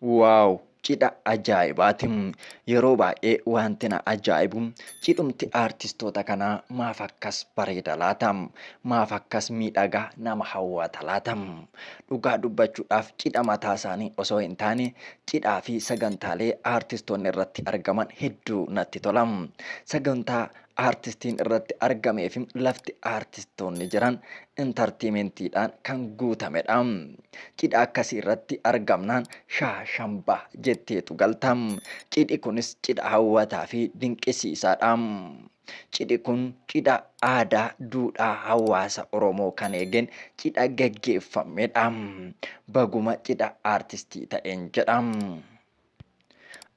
Wow cidha ajaa'ibaati. Yeroo baay'ee wanti na ajaa'ibu cidhumti aartistoota kanaa maaf akkas bareeda laata? Maaf akkas miidhaga nama hawwata laata? Dhugaa dubbachuudhaaf cidha mataa isaanii osoo hin taane cidhaa fi sagantaalee aartistoonni irratti argaman hedduu natti tola. Sagantaa aartistiin irratti argamee fi lafti aartistoonni jiran intartiimentiidhaan kan guutamedha. Cidha akkasii irratti argamnaan shaa shamba jetteetu galta. Cidhi kunis cidha hawwataa fi dinqisiisaadha. Cidhi kun cidha aadaa duudhaa hawaasa Oromoo kan eegeen cidha gaggeeffamedha. Baguma cidha aartistii ta'een jedha.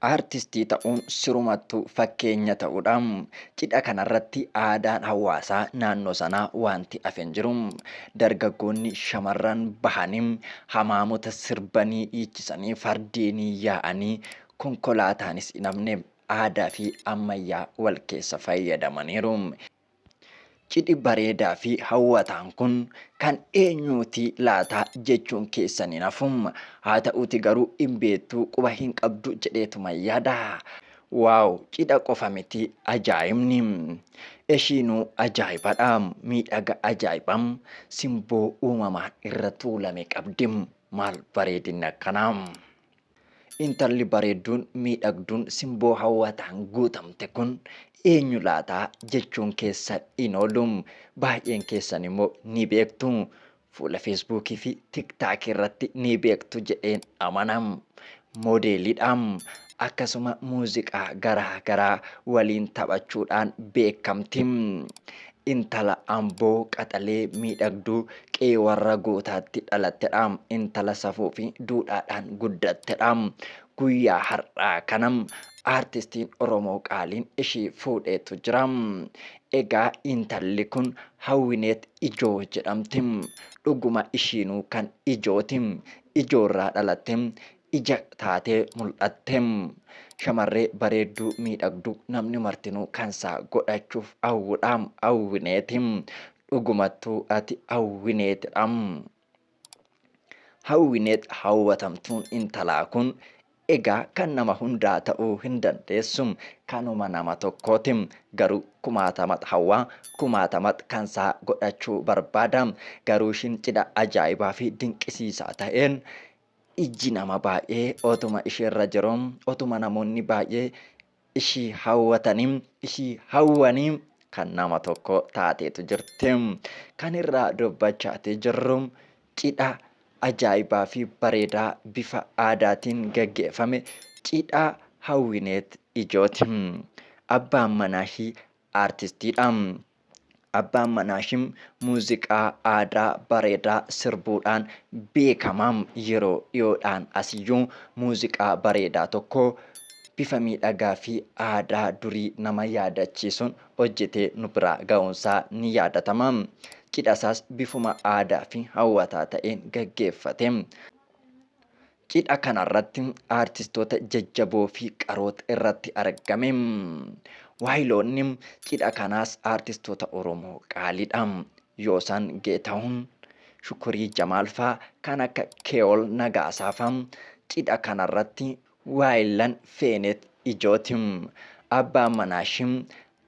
Aartistii ta'uun sirumattuu fakkeenya ta'uudha. Cidha kanarratti aadaan hawaasaa naannoo sanaa waanti hafe hin jiru. Dargaggoonni shamarran bahanii hamaamota sirbanii dhiichisanii fardeenii yaa'anii konkolaataanis hin hafne aadaa fi ammayyaa wal keessa fayyadamaniiru. Cidhi bareedaa fi hawwataan kun kan eenyuuti laataa jechuun keessan hin hafu. Haa ta'uuti garuu hin beektu quba hin qabdu jedheetuma yaada. Waaw cidha qofa miti ajaa'ibni. Eshiinuu ajaa'ibadha. Miidhaga ajaa'iba simboo uumamaan irra tuulame qabdi. Maal bareedinni akkanaa. Intalli bareedduun, miidhagduun, simboo hawwataan guutamte kun eenyu laata jechuun keessa hin oolu. Baay'een keessan immoo ni beektu. Fuula Feesbuukii fi Tiktaakii irratti ni beektu jedheen amana. Moodeeliidha. Akkasuma muuziqaa garaa garaa waliin taphachuudhaan beekamti. Intala Amboo qaxalee miidhagduu qe'ee warra gootaatti dhalattedha. Intala safuufi duudhaadhaan guddattedha. Guyyaa har'aa kana aartistiin Oromoo qaaliin ishii fuudheetu jira. Egaa intalli kun Hawwineet Ijoo jedhamti. Dhuguma ishiinuu kan ijooti. Ijoorraa dhalatte. ija taatee mul'atte. Shamarree bareedduu miidhagduu namni martinuu kansaa godhachuuf hawwudha. Hawwineeti. Dhugumattuu ati hawwineetidha. Hawwineet hawwatamtuun intalaa kun egaa kan nama hundaa ta'uu hin dandeessu. Kanuma nama tokkooti. Garuu kumaatamat hawwaa kumaatamat kansaa godhachuu barbaada. Garuu ishiin cidha ajaa'ibaa fi dinqisiisaa ta'een Ijji nama baay'ee otuma isheerra jiruu, otuma namoonni baay'ee ishii hawwatanii, ishii hawwanii kan nama tokko taateetu jirti. Kan irraa dubbachaatii jirru cidha ajaa'ibaa fi bareedaa bifa aadaatiin gaggeeffame cidha Hawwineet Ijooti. Abbaan manaa ishii Aartistiidha. Abbaan manaashii muuziqaa aadaa bareedaa sirbuudhaan beekama. Yeroo dhiyoodhaan asiyyuu muuziqaa bareedaa tokko bifa miidhagaa fi aadaa durii nama yaadachiisuun hojjetee nu biraa ga'uunsaa ni yaadatama. Cidhasaas bifuma aadaa fi hawwataa ta'een gaggeeffate. Cidha kanarratti aartistoota jajjaboo fi qaroota irratti argame. Waayiloonni cidha kanaas aartistoota Oromoo qaaliidha. Yoosaan Geetahun, Shukurii Jamaal faa kan akka Kee'ol Nagaasaa faa cidha kanarratti waayillan Feeneet Ijooti. Abbaan manaashii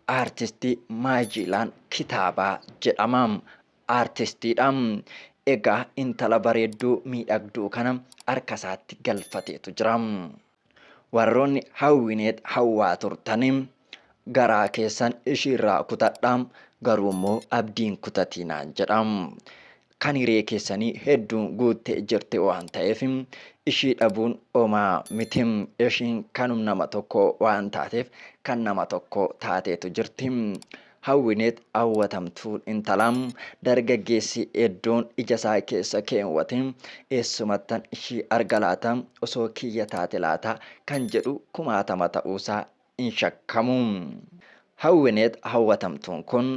aartistii Maajiilaan Kitaabaa jedhama. Artistiidha. Egaa intala bareedduu miidhagduu kana harkasaatti galfateetu jira. Warroonni Hawwineet hawwaa turtan garaa keessan ishiirraa kutadhaa garuummoo abdiin kutatiinaan jedha. Kan hiree keessanii hedduun guuttee jirti waan ta'eef ishii dhabuun homaa miti. Ishiin kanum nama tokkoo waan taateef kan nama tokkoo taateetu jirti. Hawwineet hawwatamtuun intalaa dargaggeessi eddoon ijasaa keessa keewwate eessumattan ishii arga laata? Osoo kiyya taate laata? kan jedhu kumaatama ta'uusaa hin shakkamu. Hawwineet hawwatamtuun kun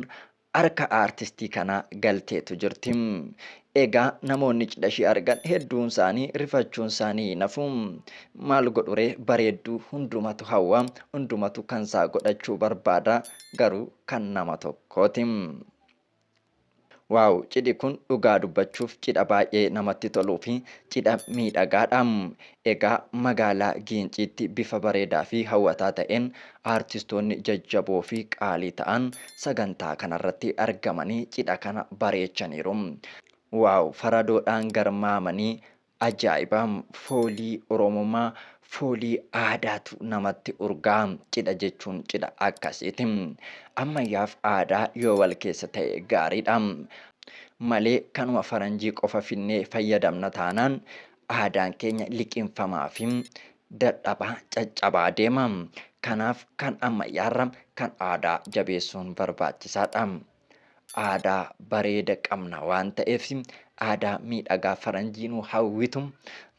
harka aartistii kanaa galteetu jirti. Egaa namoonni cidha ishee argan hedduun isaanii rifachuun isaanii hin hafu. Maal godhuree bareedduu hundumatu hawwa, hundumatu kan isaa godhachuu barbaada garuu kan nama tokkooti. Waaw cidhi kun dhugaa dubbachuuf cidha baay'ee namatti toluu fi cidha miidhagaadha. Egaa magaalaa Giinciitti bifa bareedaa fi hawwataa ta'een aartistoonni jajjaboo fi qaalii ta'an sagantaa kanarratti argamanii cidha kana bareechaniiru. Wow! Faradoodhaan garmaamanii ajaa'iba! Foolii Oromummaa, foolii aadaatu namatti urgaa'a. Cidha jechuun cidha akkasiiti. Ammayyaaf aadaa yoo wal keessa ta'e gaariidha. Malee kanuma faranjii qofa finnee fayyadamna taanaan Aadaan keenya liqimfamaa fi dadhabaa, caccabaa deema. Kanaaf kan ammayyaarra kan aadaa jabeessuun barbaachisaadha. Aadaa bareeda qabna waan ta'eef aadaa miidhagaa faranjii nu hawwitu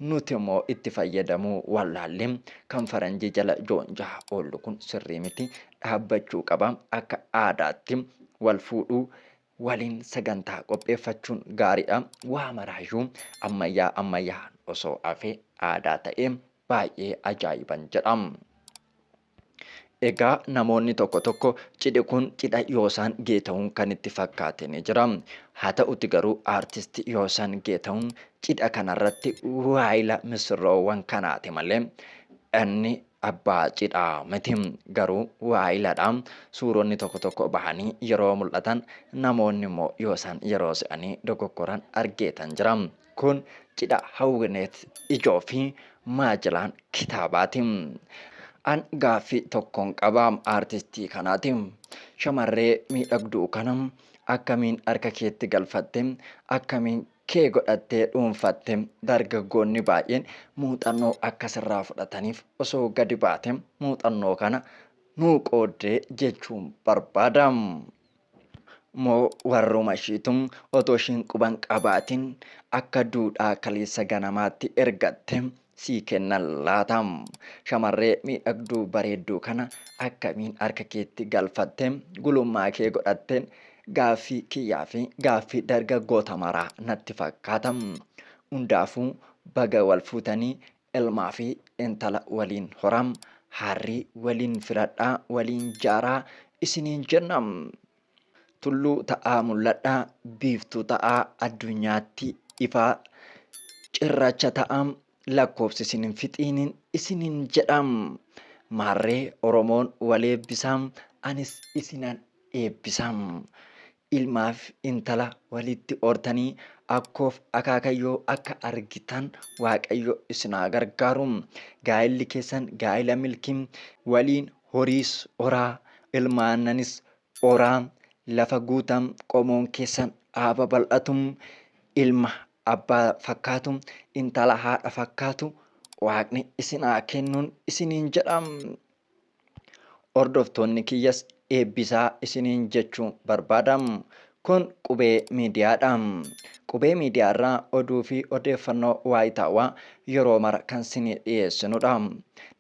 nuti immoo itti fayyadamuu wallaallee kan faranjii jala joonjaa oollu kun sirrii miti dhaabbachuu qaba akka aadaatti wal fuudhuu waliin sagantaa qopheeffachuun gaariidha. Waa maraayyuu ammayyaa ammayyaa'aan osoo hafee aadaa ta'ee baay'ee ajaa'iban jedha. Egaa namoonni tokko tokko cidhi kun cidha Yoosaan Geetahun kan itti fakkaate ni jira. Haa ta'uti garuu aartisti Yoosaan Geetahun cidha kanarratti waayila misirroowwan kanaati malee inni Abbaa cidhaa miti. Garuu waa'iladha. Suuronni tokko tokko bahanii yeroo mul'atan namoonni immoo yoo isaan yeroo se'anii dogoggoran argeetan jira. Kun cidha Hawwineet Ijoo fi Maajilaan Kitaabaati. An gaaffii tokkon qaba aartistii kanaati. Shamarree miidhagduu kana akkamiin harka keetti galfatte? Akkamiin kee godhattee dhuunfatte dargaggoonni baay'een muuxannoo akka sirraa fudhataniif osoo gadi baate muuxannoo kana nuu qooddee jechuun barbaada. Moo warruma ishiitu otoo ishiin quban qabaatiin akka duudhaa kaleessa ganamaatti ergatte sii kennan laata? Shamarree miidhagduu bareedduu kana akkamiin harka keetti galfatte, gulummaa kee godhatte? Gaaffii kiyyaa fi gaaffii dargaggoota maraa natti fakkaata. Hundaafuu baga wal fuutanii ilmaa fi intala waliin horaa, haarrii waliin filadhaa, waliin jaaraa isiniin jenna. Tulluu ta'aa mul'adhaa, biiftuu ta'aa addunyaatti ifaa, cirracha ta'aa lakkoofsi isin hin fixiinin isiniin jedhaam. Maarree Oromoon wal eebbisaam, anis isinan eebbisaam. Ilmaaf intala walitti hortanii akkoof akaakayyoo akka argitan Waaqayyo isin haa gargaaru. Gaa'illi keessan gaa'ila milkii waliin horiis horaa, ilma aannanis horaa, lafa guutaa, qomoon keessan haa babal'atu, ilma abbaa fakkaatu, intala haadha fakkaatu waaqni isin haa kennuun isiniin jedha. Hordoftoonni kiyyas eebbisaa isiniin jechuu barbaada. Kun Qubee Miidiyaa dha. Qubee Miidiyaa irraa oduu fi odeeffannoo waayitaawaa yeroo mara kan sinii dhiyeessinu dha.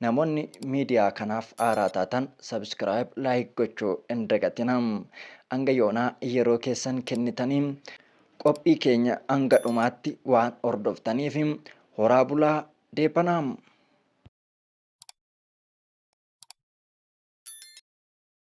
Namoonni miidiyaa kanaaf haaraa taatan subscribe, like gochuu hin dagatina. Hanga yoonaa yeroo keessan kennitanii qophii keenya hanga dhumaatti waan hordoftaniif horaa bulaa deebanaa.